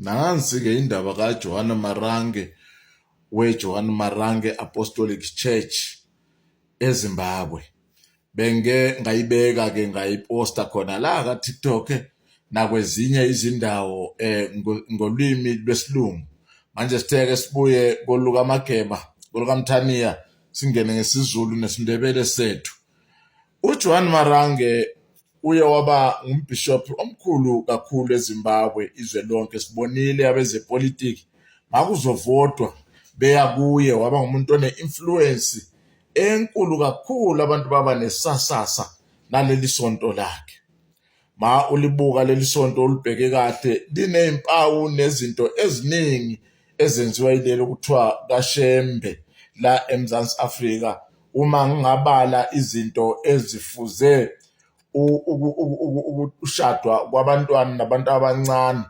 Nansi-ke indaba kaJohane Marange weJohane Marange Apostolic Church eZimbabwe. Benge ngayibeka-ke ngayiposta khona la ka-TikTok nakwezinye izindawo eh, ngolwimi lwesilungu. Manje sitheke sibuye kolukaMageba, kolukaMthaniya singene ngesiZulu nesiNdebele sethu. UJoan Marange uye waba ngumbhishophi omkhulu kakhulu eZimbabwe izwe lonke sibonile abezepolitiki makuzovotwa beya kuye waba ngumuntu one-influence enkulu kakhulu abantu baba nesasasa naleli sonto lakhe Ma ulibuka leli sonto ulibheke kahle linezimpawu nezinto eziningi ezenziwa yileli okuthiwa kaShembe la eMzansi Afrika uma ngingabala izinto ezifuze ukushadwa kwabantwana nabantu abancane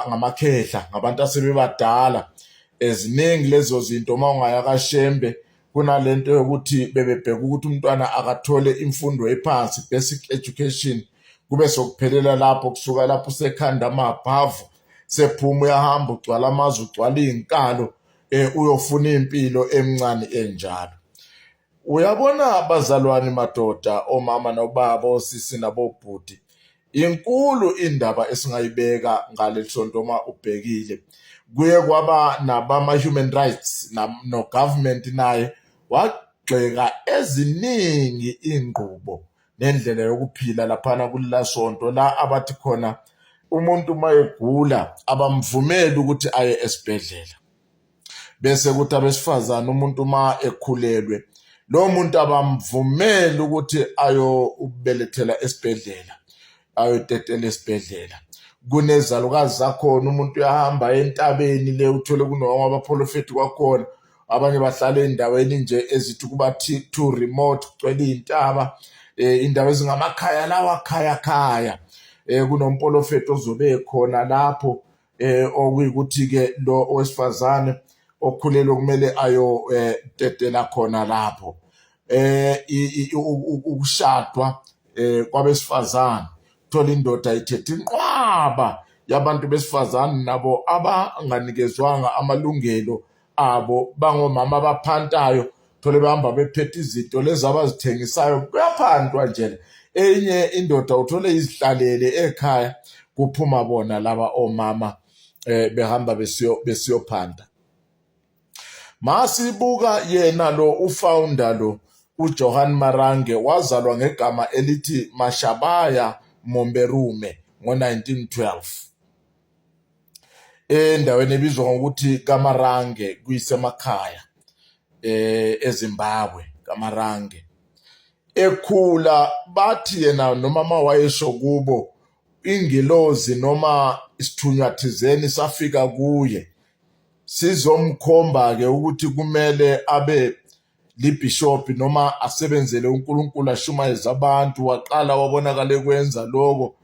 ngamakhehla ngabantu asebebadala eziningi lezo zinto uma ungaya kaShembe kunalento yokuthi bebebheka ukuthi umntwana akathole imfundo ephansi basic education kube sokuphelela lapho kusuka lapho usekhanda amabhavu sephuma uyahamba ugcwala amazwe ugcwala iy'nkalo um uyofuna impilo emncane enjalo uyabona bazalwane madoda omama nobaba osisi nabobhuti Inkulu indaba esingayibeka ngaleli sonto uma ubhekile kuye kwaba nabama-human rights no-government naye wagxeka eziningi iy'ngqubo nendlela yokuphila laphana kulila sonto la abathi khona umuntu uma egula abamvumeli ukuthi aye esibhedlela. bese kuthi abesifazane umuntu uma ekhulelwe lo muntu abamvumeli ukuthi ayobelethela esibhedlela ayotetela esibhedlela kunezalukazi zakhona umuntu uyahamba entabeni le uthole kunoma abaprofethi kwakhona abanye bahlala endaweni nje ezithi kuba too remote kugcwele iy'ntaba um eh, indawo ezingamakhaya lawa khaya khaya um eh, kunompolofethi ozobe ekhona lapho eh okuyikuthi ke lo owesifazane okhulelwe kumele ayo eh, tetela khona lapho eh ukushadwa eh kwabesifazane thola indoda ithethe inqwaba yabantu besifazane nabo abanganikezwanga amalungelo abo bangomama abaphantayo thole bahamba bephethe izinto lezi abazithengisayo kuyaphantwa njena enye indoda uthole izihlalele ekhaya kuphuma bona laba omama eh behamba besiyo besiyophanda masibuka yena lo ufounder lo uJohan Marange wazalwa ngegama elithi Mashabaya Momberume ngo-1912 endaweni ebizwa ngokuthi Kamarange kuyisemakhaya eh eZimbabwe Kamarange ekhula bathi yena noma mawayesho kubo ingelozi noma isithunywa thizeni safika kuye sizomkhomba ke ukuthi kumele abe libhishobhi noma asebenzele uNkulunkulu ashumayeze abantu waqala wabonakala ekwenza lokho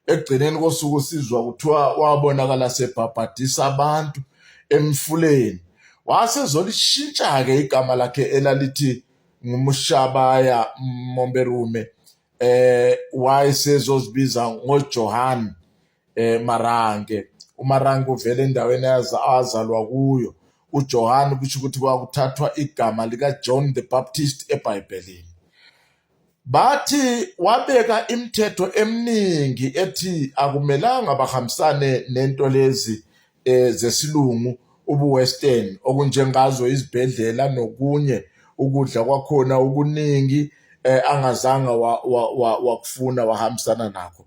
ekugcineni kosuku sizwa kuthiwa wabonakala sebhabhadisa abantu emfuleni wasezolishintsha-ke igama lakhe elalithi ngumushabaya momberume eh wayesezozibiza ngojohane eh Marange uMarange uvele endaweni azalwa kuyo uJohane kusho ukuthi kwakuthathwa igama likaJohn the Baptist eBhayibhelini bathi wabeka imithetho eminingi ethi akumelanga bahambisane nento lezi eh, zesilungu ubuwestern okunjengazo izibhedlela nokunye ukudla kwakhona okuningi eh, angazange wakufuna wa, wa, wahambisana nakho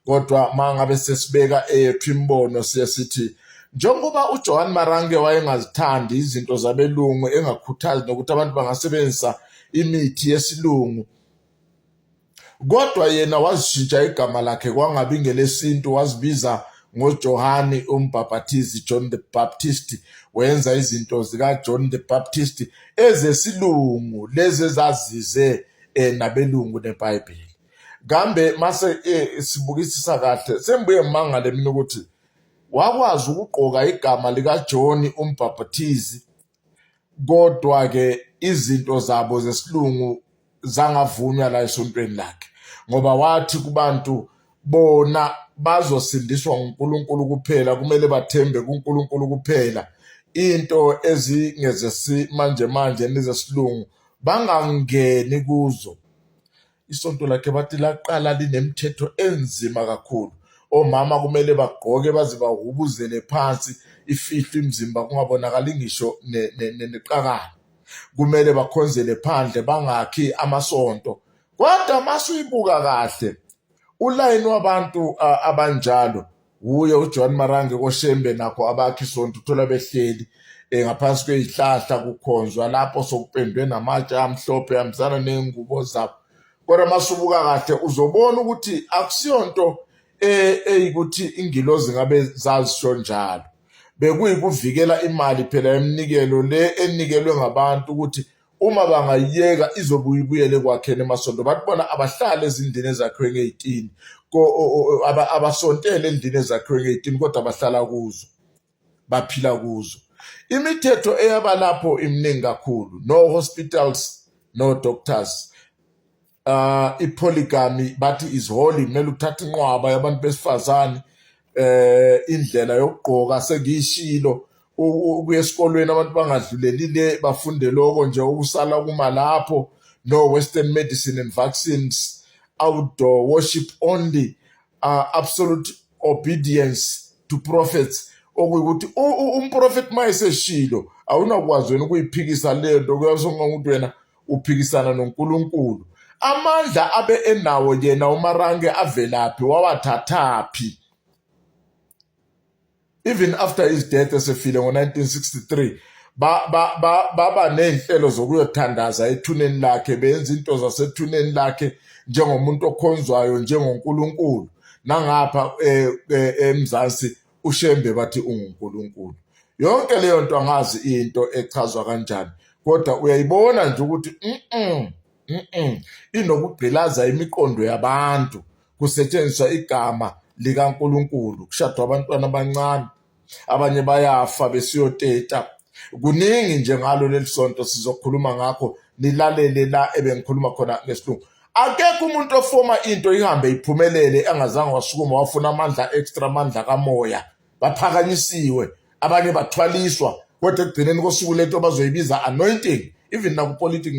kodwa mangabe sesibeka eyethu imibono siye sithi njengoba uJohan Marange wayengazithandi izinto zabelungu engakhuthazi nokuthi abantu bangasebenzisa imithi yesilungu kodwa yena wazishintsha igama lakhe kwangabi ngelesintu wazibiza ngojohani umbhabhathizi john the baptist wenza izinto zikajohn the baptist ezesilungu lezi ezazize eh, nabelungu nebhayibheli kambe mase eh, sibukisisa kahle sembuye mangale mina ukuthi wakwazi ukugqoka igama likajohn umbhabhathizi kodwa-ke izinto zabo zesilungu zangavunywa la esontweni lakhe ngoba wathi kubantu bona bazosindiswa nguNkulunkulu kuphela kumele bathembe kuNkulunkulu kuphela into ezingezesimanje manje nezesilungu bangangeni kuzo isonto lakhe bathi laqala linemithetho enzima kakhulu omama kumele bagqoke baze bahubuzele phansi ifihlwe imizimba kungabonakali ngisho neqakala kumele bakhonzele phandle bangakhi amasonto kodwa masuyibuka kahle ulayini wabantu abanjalo wuye ujohn marange koshembe nakho abakhi sonto uthola behleli um ngaphansi kweyihlahla kukhonzwa lapho sokupendwe namatshe amhlophe hambisana neyingubo zabo kodwa masubuka kahle uzobona ukuthi akusiyonto eh, eyikuthi ingilozi ngabe zazisho njalo bekuyikuvikela imali phela emnikelo le enikelwe ngabantu ukuthi uma bangayiyeka izobuye ibuyele ekwakheni emasonto abantu bona abahlale ezindlini ezakhiwe ngey'tini abasontele endlini ezakhiwe ngey'tini kodwa bahlala kuzo baphila kuzo imithetho eyaba lapho iminingi kakhulu no hospitals no doctors uh ipoligamy bathi is holy kumele uthathe inqwaba yabantu besifazane eh indlela yokugqoka sengiyishilo ukuya esikolweni abantu bangadluleli le bafunde lokho nje ukusala kuma lapho no western medicine and vaccines outdoor worship only uh, absolute obedience to prophets okuyukuthi umprofeti mayeseshilo awunakwazi wena ukuyiphikisa lento kuyasonga ukuthi wena uphikisana noNkulunkulu. Amandla abe enawo yena uMarange avelaphi wawathathaphi? Even after his death esefile ngo-1963 baba ney'nhlelo zokuyothandaza ethuneni lakhe benza into zasethuneni lakhe njengomuntu okhonzwayo njengoNkulunkulu nangapha eh, eh, eMzansi uShembe bathi unguNkulunkulu. Yonke leyo nto angazi into echazwa kanjani kodwa uyayibona nje ukuthi mm mm inokugqilaza imiqondo yabantu kusetshenziswa igama likaNkulunkulu kushadwa abantwana abancane abanye bayafa besiyoteta kuningi nje ngalo leli sonto sizokhuluma ngakho nilalele la ebengikhuluma khona ngesilungu akekho umuntu ofoma into ihambe iphumelele angazange wasukuma wafuna amandla extra amandla kamoya baphakanyisiwe abanye bathwaliswa kodwa ekugcineni kosuku lento bazoyibiza anointing even nakupolitiki